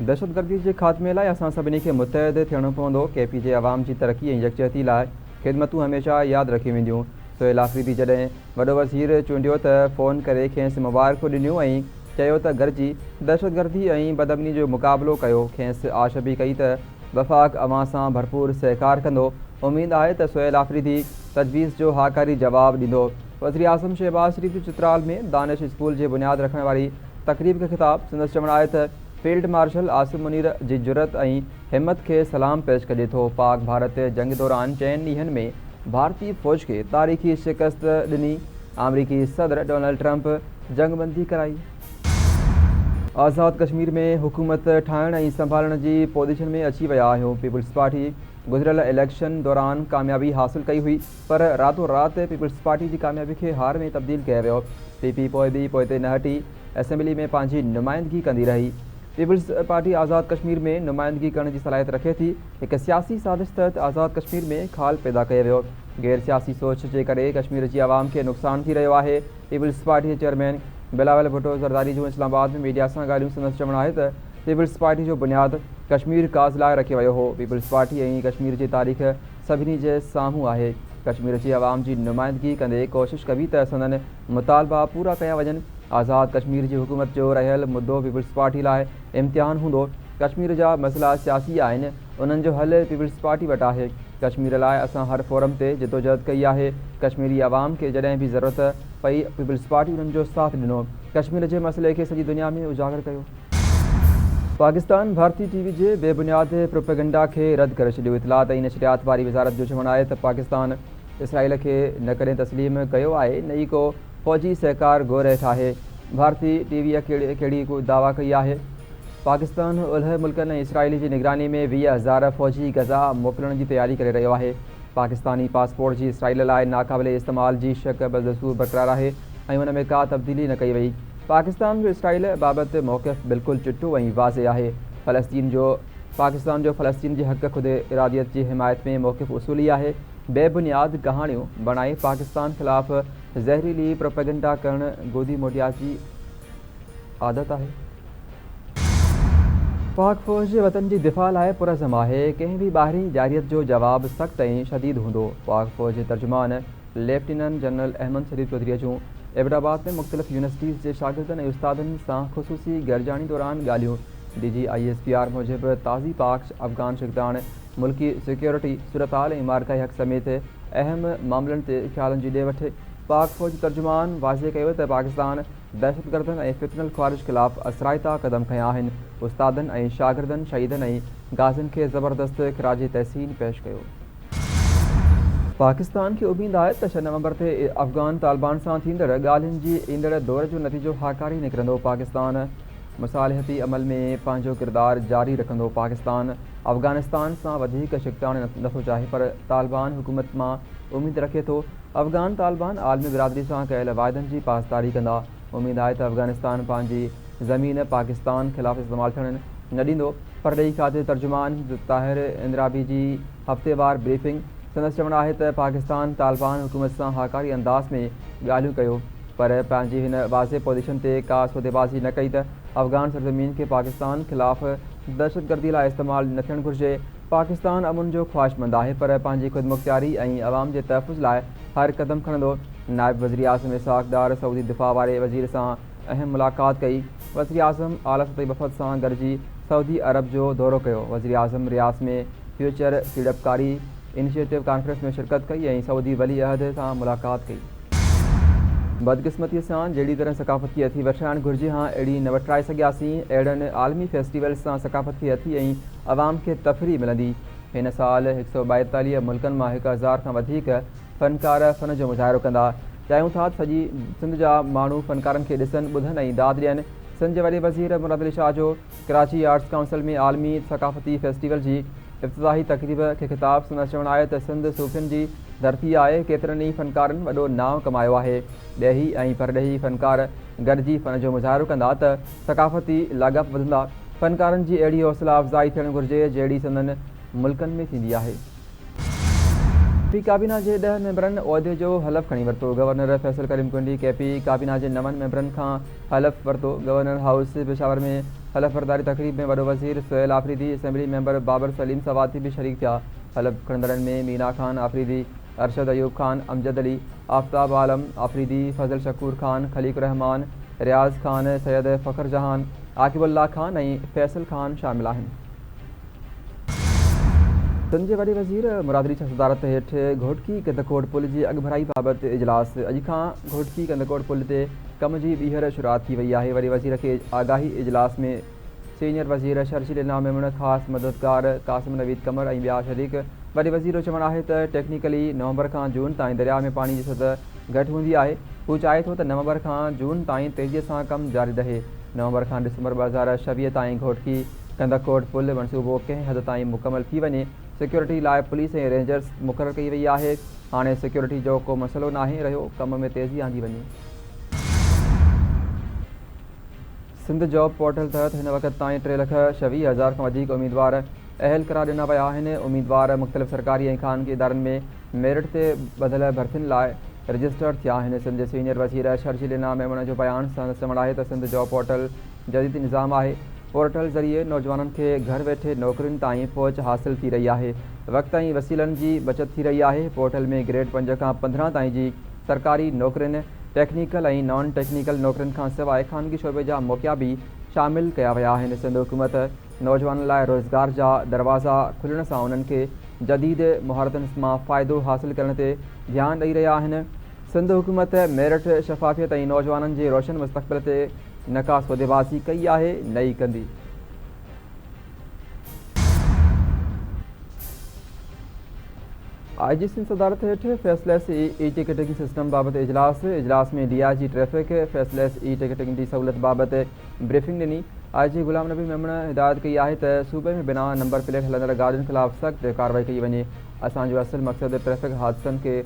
دهشتگردي جي خاتمي لاء اسان سڀني کي متحد ٿيڻو پوندو، ڪي پي جي عوام جي ترقي ۽ يڪجهتي لاء خدمتون هميشه ياد رکيون وينديون، سهيل آفريدي جڏهن وڏو وزير چونڊيو ته فون ڪري کيس مبارڪون ڏنيون ۽ چيو ته گڏجي دهشتگردي ۽ بدامني جو مقابلو ڪيو، کيس آش به ڪئي ته وفاق اوهان سان ڀرپور سهڪار ڪندو، اميد آهي ته سهيل آفريدي تجويز جو هاڪاري جواب ڏيندو. وزيراعظم شهباز شريف جو چترال ۾ دانش اسڪول جي بنياد رکڻ واري تقريب کي خطاب، سندس چوڻ آهي ته فيلڊ مارشل عاصم منير جي جرئت ۽ همت کي سلام پيش ڪجي ٿو، پاڪ ڀارت جنگ دوران چئن ڏينهن ۾ ڀارتي فوج کي تاريخي شڪست ڏني، آمريڪي صدر ڊونلڊ ٽرمپ جنگبندي ڪرائي. آزاد ڪشمير ۾ حڪومت ٺاهڻ ۽ سنڀالڻ جي پوزيشن ۾ اچي ويا آهيو، پيپلزپارٽي گذريل اليڪشن دوران ڪاميابي حاصل ڪئي هئي پر راتو رات پيپلزپارٽي جي ڪاميابي کي هار ۾ تبديل ڪيو ويو، پي پي پوء به پوئتي نه هٽي، اسيمبلي ۾ پنهنجي نمائندگي ڪندي رهي. پيپلزپارٽي آزاد ڪشمير ۾ نمائندگي ڪرڻ جي صلاحيت رکي ٿي، هڪ سياسي سازش تحت آزاد ڪشمير ۾ خال پيدا ڪيو ويو، غير سياسي سوچ جي ڪري ڪشمير جي عوام کي نقصان ٿي رهيو آهي، پيپلزپارٽي جي چيئرمين بلاول ڀٽو زرداري جون اسلام آباد ۾ ميڊيا سان ڳالهيون سندس چوڻ آهي ته پيپلزپارٽي جو بنياد ڪشمير ڪاز لاء رکيو ويو هو، پيپلزپارٽي ۽ ڪشمير جي تاريخ سڀني جي سامهون آهي، ڪشمير جي عوام جي نمائندگي ڪندي ڪوشش ڪبي ته سندن مطالبا پورا ڪيا وڃن، آزاد ڪشمير جي حڪومت جو رهيل مدو پيپلزپارٽي لاء امتحان هوندو، ڪشمير جا مسئلا سياسي آهن، انهن جو حل پيپلز پارٽي وٽ آهي، ڪشمير لاء اسان هر فورم تي جدوجهد ڪئي آهي، ڪشميري عوام کي جڏهن به ضرورت پئي پيپلز پارٽي انهن جو ساٿ ڏنو، ڪشمير جي مسئلي کي سڄي دنيا ۾ اجاگر ڪيو. پاڪستان ڀارتي ٽي وي جي بي بنياد پروپيگنڊا کي رد ڪري ڇڏيو، اطلاعات ۽ نشريات واري وزارت جو چوڻ آهي ته پاڪستان اسرائيل کي نه ڪڏهن تسليم ڪيو آهي نه ئي ڪو فوجي سهڪار گهري ٺاهي ڀارتي ٽي ويء ڪهڙي ڪو دعويٰ ڪئي آهي؟ پاڪستان اولهه ملڪن ۽ اسرائيل جي نگراني ۾ ويهه هزار فوجي غزا موڪلڻ جي تياري ڪري رهيو آهي. پاڪستاني پاسپورٽ جي اسرائيل لاء ناقابل استعمال جي شق بدستور برقرار آهي ۽ ان ۾ ڪا تبديلي نه ڪئي وئي. پاڪستان جو اسرائيل بابت موقف بلڪل چٽو ۽ واضح آهي. فلسطين جو پاڪستان جو فلسطين جي حق خود اراديت جي حمايت ۾ موقف اصولي آهي. بي بنياد ڪهاڻيون بڻائي پاڪستان خلاف زهريلي پروپيگنڊا ڪرڻ گودي موٽيا جي عادت آهي. پاڪ فوج وطن جي دفاع لاء پرعزم آهي، ڪنهن به ٻاهرين جارحيت جو جواب سخت ۽ شديد هوندو. پاڪ فوج جي ترجمان ليفٽيننٽ جنرل احمد شريف چوڌريء جون ايبٽ آباد ۾ مختلف يونيورسٽيز جي شاگردن ۽ استادن سان خصوصي گڏجاڻي دوران ڳالهيون D G I S P R موجب تازي پاڪ افغان شڪتاڻ ملڪي سيڪيورٽي صورتحال ۽ معرڪائي حق سميت اهم معاملن تي خيالن جي ڏي وٺ. پاڪ فوجي ترجمان واضح ڪيو ته پاڪستان دهشتگردن ۽ فتنه الخوارج خلاف اثرائتا قدم کنيا آهن، استادن ۽ شاگردن، شهيدن ۽ غازين کي زبردست خراج تحسين پيش ڪيو. پاڪستان کي اميد آهي ته ڇهه نومبر تي افغان طالبان سان ٿيندڙ ڳالهين جي ايندڙ دور جو نتيجو هاڪاري نڪرندو، پاڪستان. مصالحتي عمل ۾ پنهنجو ڪردار جاري رکندو، پاڪستان افغانستان سان وڌيڪ ڇڪتاڻ نٿو چاهي پر طالبان حڪومت مان اميد رکي ٿو، افغان طالبان عالمي برادري سان ڪيل واعدن جي پاسداري ڪندا، اميد آهي ته افغانستان پنهنجي زمين پاڪستان خلاف استعمال ٿيڻ نه ڏيندو. پرڏيهي کاتي ترجمان طاهر اندرابي جي. هفتيوار بريفنگ، سندس چوڻ آهي ته پاڪستان طالبان حڪومت سان هاڪاري انداز ۾ ڳالهيون ڪيو پر پنهنجي هن واضح پوزيشن تي ڪا سوديبازي نه ڪئي ته افغان سرزمين کي پاڪستان خلاف دهشتگردي لاء استعمال نه ٿيڻ گهرجي، پاڪستان امن جو خواهشمند آهي پر پنهنجي خودمختياري ۽ عوام جي تحفظ لاء هر قدم کڻندو، نائب وزيراعظم اسحاق ڊار سعودي دفاع واري وزير سان اهم ملاقات ڪئي، وزيراعظم اعليٰ سطحي وفد سان گڏجي سعودي عرب جو دورو ڪيو، وزيراعظم رياض ۾ فيوچر سيڙپڪاري انيشيٽو ڪانفرنس ۾ شرڪت ڪئي ۽ سعودي ولي عهد سان ملاقات ڪئي. بدقسمتيء سان جهڙي طرح ثقافتي اٿي وٺرائڻ گهرجي ها اهڙي نه وٺرائي سگهياسين، اهڙن عالمي فيسٽيولز سان ثقافتي اٿي ۽ عوام کي تفريح ملندي، هن سال هڪ سؤ ٻائيتاليهه ملڪن مان هڪ هزار کان وڌيڪ فنڪار فن جو مظاهرو ڪندا، چاهيون ٿا ته سڄي سنڌ جا ماڻهو فنڪارن کي ڏسن، ٻڌن ۽ داد ڏين. سنڌ جي وڏي وزير مراد علي شاهه جو ڪراچي آرٽس ڪائونسل ۾ عالمي ثقافتي فيسٽيول جي افتتاحي تقريب کي خطاب سندس چوڻ آهي ته سنڌ صوفين جي ڌرتي آهي، ڪيترن ئي فنڪارن وڏو نانء ڪمايو آهي، ڏيهي ۽ پرڏيهي فنڪار گڏجي فن جو مظاهرو ڪندا ته ثقافتي لاڳاپا وڌندا، فنڪارن جي اهڙي حوصلا افزائي ٿيڻ گهرجي جهڙي سندن ملڪن ۾ ٿيندي آهي. پي ڪابينا جي ڏهه ميمبرن عهدي جو حلف کڻي ورتو، گورنر فيصل ڪريم ڪنڊي ڪي پي ڪابينا جي نون ميمبرن کان حلف ورتو، گورنر هائوس پشاور ۾ حلف برداري تقريب ۾ وڏو وزير سهيل آفريدي، اسيمبلي ميمبر بابر سليم سواتي به شريڪ ٿيا، حلف کڻندڙن ۾ مينا خان آفريدي، ارشد ايوب خان، امجد علي، آفتاب عالم آفريدي، فضل شڪور خان، خليق الرحمان، رياض خان، سيد فخر جهان، عاقب الله خان ۽ فيصل خان شامل آهن. سنڌ جي وڏي وزير مراد علي شاهه صدارت هيٺ گهوٽڪي ڪنڌڪوٽ پل جي اڳڀرائي بابت اجلاس، اڄ کان گهوٽڪي ڪنڌڪوٽ پل تي ڪم جي ٻيهر شروعات ٿي وئي آهي، وڏي وزير کي آگاهي اجلاس ۾ سينيئر وزير شرجيل انعام ميمڻ، خاص مددگار قاسم نويد قمر ۽ ٻيا شريڪ، وڏي وزير جو چوڻ آهي ته ٽيڪنيڪلي نومبر کان جون تائين درياء ۾ پاڻي جي سطح گهٽ هوندي آهي، هو چاهي ٿو ته نومبر کان جون تائين تيزي سان ڪم جاري رهي، نومبر کان ڊسمبر ٻه هزار ڇويهه تائين گهوٽڪي. ڪنڌڪوٽ پل منصوبو ڪنهن حد تائين مڪمل ٿي وڃي، سيڪيورٽي لاء پوليس ۽ رينجرز مقرر ڪئي وئي آهي، هاڻي سيڪيورٽي جو ڪو مسئلو ناهي رهيو، ڪم ۾ تيزي آندي وڃي. سنڌ جاب پورٽل تحت هن وقت تائين ٽي لک ڇهه ويهه هزار کان وڌيڪ اميدوار اهل قرار ڏنا ويا آهن، اميدوار مختلف سرڪاري ۽ خانگي ادارن ۾ ميرٽ تي ٻڌل ڀرتين لاء رجسٽرڊ ٿيا آهن، سنڌ جي سينيئر وزير شرجيل انعام ميمڻ جو بيان، سندس چوڻ آهي ته سنڌ جاب پورٽل. جديد نظام آهي، پورٽل ذريعي نوجوانن کي گهر ويٺي نوڪرين تائين پهچ حاصل ٿي رهي آهي، وقت ۽ وسيلن جي بچت ٿي رهي آهي، پورٽل ۾ گريڊ پنج کان پندرهن تائين جي سرڪاري نوڪرين، ٽيڪنيڪل ۽ نان ٽيڪنيڪل نوڪرين کان سواء خانگي شعبي جا موقعا به شامل ڪيا ويا آهن، سنڌ حڪومت نوجوانن لاء روزگار جا دروازا کلڻ سان انهن کي جديد مهارتن مان فائدو حاصل ڪرڻ تي ڌيان ڏئي رهيا آهن، سنڌ حڪومت ميرٽ، شفافيت ۽ نوجوانن جي روشن مستقبل تي. نه ڪا سودي بازي ڪئي آهي نه ئي ڪندي. آء جي سين صدارت هيٺ faceless e ticketing system بابت اجلاس، اجلاس ۾ D I G traffic faceless e ticketing جي سهولت بابت بريفنگ ڏني، آء جي غلام نبي ميمڻ هدايت ڪئي آهي ته صوبي ۾ بنا نمبر پليٽ هلندڙ گاڏين خلاف سخت ڪارروائي ڪئي وڃي، اسان جو اصل مقصد ٽريفڪ حادثن کي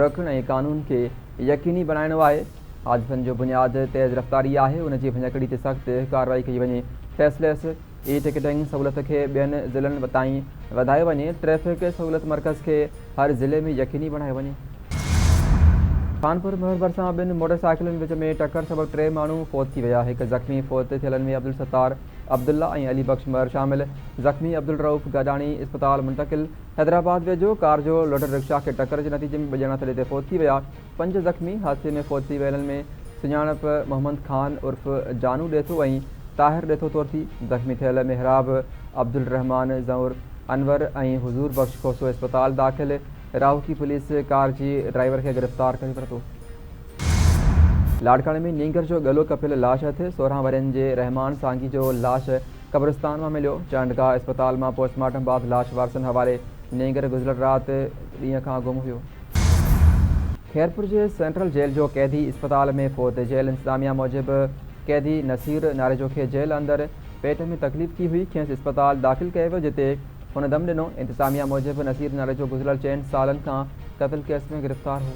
روڪڻ ۽ قانون کي يقيني بڻائڻو آهي. حادثن جو بنياد تيز رفتاري آهي، ان جي ڀڃڪڙي تي سخت ڪارروائي ڪئي وڃي، فيس ليس اي ٽڪيٽنگ سهولت کي ٻين ضلعن تائين وڌايو وڃي، ٽريفڪ سهولت مرڪز کي هر ضلعي ۾ يقيني بڻايو وڃي. خانپور مهر ڀرسان ٻن موٽر سائيڪلن وچ ۾ ٽڪر سبب ٽي ماڻهو فوت ٿي ويا، هڪ زخمي، فوت ٿيلن ۾ عبدالستار عبدالله ۽ علي بخش مهر شامل، زخمي عبدالرئوف گاڏاڻي اسپتال منتقل، حيدرآباد ويجهو ڪار جو لوڊر رڪشا کي ٽڪر جي نتيجي ۾ ٻه ڄڻا تڏي تي فوت ٿي ويا. پنج زخمي حادثي ۾ فوت ٿي ويلن ۾ سڃاڻپ محمد خان عرف جانو ڏيٿو ۽ طاهر ڏيٿو طور ٿي. زخمي ٿيل محراب، عبدالرحمان زئور، انور ۽ حضور بخش کوسو اسپتال داخل، راهوڪي پوليس ڪار جي ڊرائيور کي گرفتار ڪري ورتو. لاڙڪاڻي ۾ نينگر جو ڳلو ڪپيل لاش هٿ، سورهن ورهين جي رحمان سانگي جو لاش قبرستان مان مليو، چانڊگاهه اسپتال مان پوسٽ مارٽم بعد لاش وارثن حوالي، نينگر گذريل رات ڏينهن کان گم هيو. خيرپور جي سينٽرل جيل جو قيدي اسپتال ۾ فوت، جيل انتظاميا موجب قيدي نصير ناريجو کي جيل اندر پيٽ ۾ تڪليف ٿي هئي، کيس اسپتال داخل ڪيو ويو جتي هن دم ڏنو. انتظاميا موجب نصير نالي جو گذريل چئن سالن کان قتل ڪيس ۾ گرفتار هو.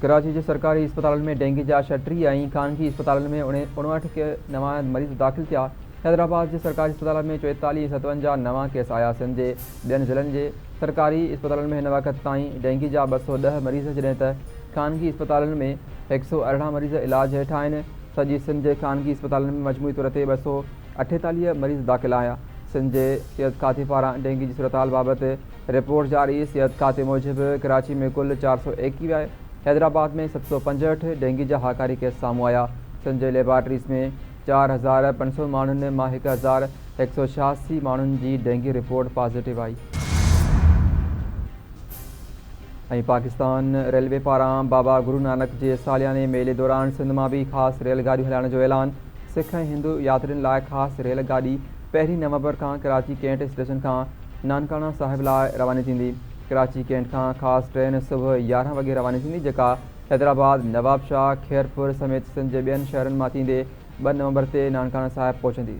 ڪراچي جي سرڪاري اسپتالن ۾ ڊينگي جا ڇهٽيهه ۽ خانگي اسپتالن ۾ اڻاهٺ ڪي نوان مريض داخل ٿيا. حيدرآباد جي سرڪاري اسپتالن ۾ چويتاليهه ۽ ستونجاهه نوان ڪيس آيا. سنڌ جي ٻين ضلعن جي سرڪاري اسپتالن ۾ هن وقت تائين ڊينگي جا ٻه سؤ ڏهه مريض جڏهن ته خانگي اسپتالن ۾ هڪ سؤ ارڙهن مريض علاج هيٺ آهن. سڄي سنڌ جي خانگي اسپتالن ۾ مجموعي طور تي ٻه سؤ اٺيتاليهه مريض داخل آهيا. سنڌ جي صحت کاتي پاران ڊينگي جي صورتحال بابت رپورٽ جاري، صحت کاتي موجب ڪراچي ۾ ڪل چار سؤ ايڪيوهه، حيدرآباد ۾ ست سؤ پنجهٺ ڊينگي جا هاڪاري ڪيس سامهون آيا، سنڌ جي ليبارٽريز ۾ چار هزار پنج سؤ ماڻهن مان هڪ هزار هڪ سؤ ڇهاسي ماڻهن جي ڊينگي رپورٽ پازيٽو آئي. ۽ پاڪستان ريلوي پاران بابا گرونانڪ جي سالياني ميلي دوران سنڌ مان به خاص ريل گاڏيون هلائڻ جو اعلان. سک ۽ هندو ياترين لاء خاص ريل گاڏي پهرين نومبر کان ڪراچي ڪينٽ اسٽيشن کان نانڪاڻا صاحب لاء رواني ٿيندي. ڪراچي ڪينٽ کان خاص ٽرين صبح يارهن وڳي رواني ٿيندي جيڪا حيدرآباد، نوابشاهه، خيرپور سميت سنڌ جي ٻين شهرن مان ٿيندي ٻه نومبر تي نانڪاڻا صاحب پهچندي.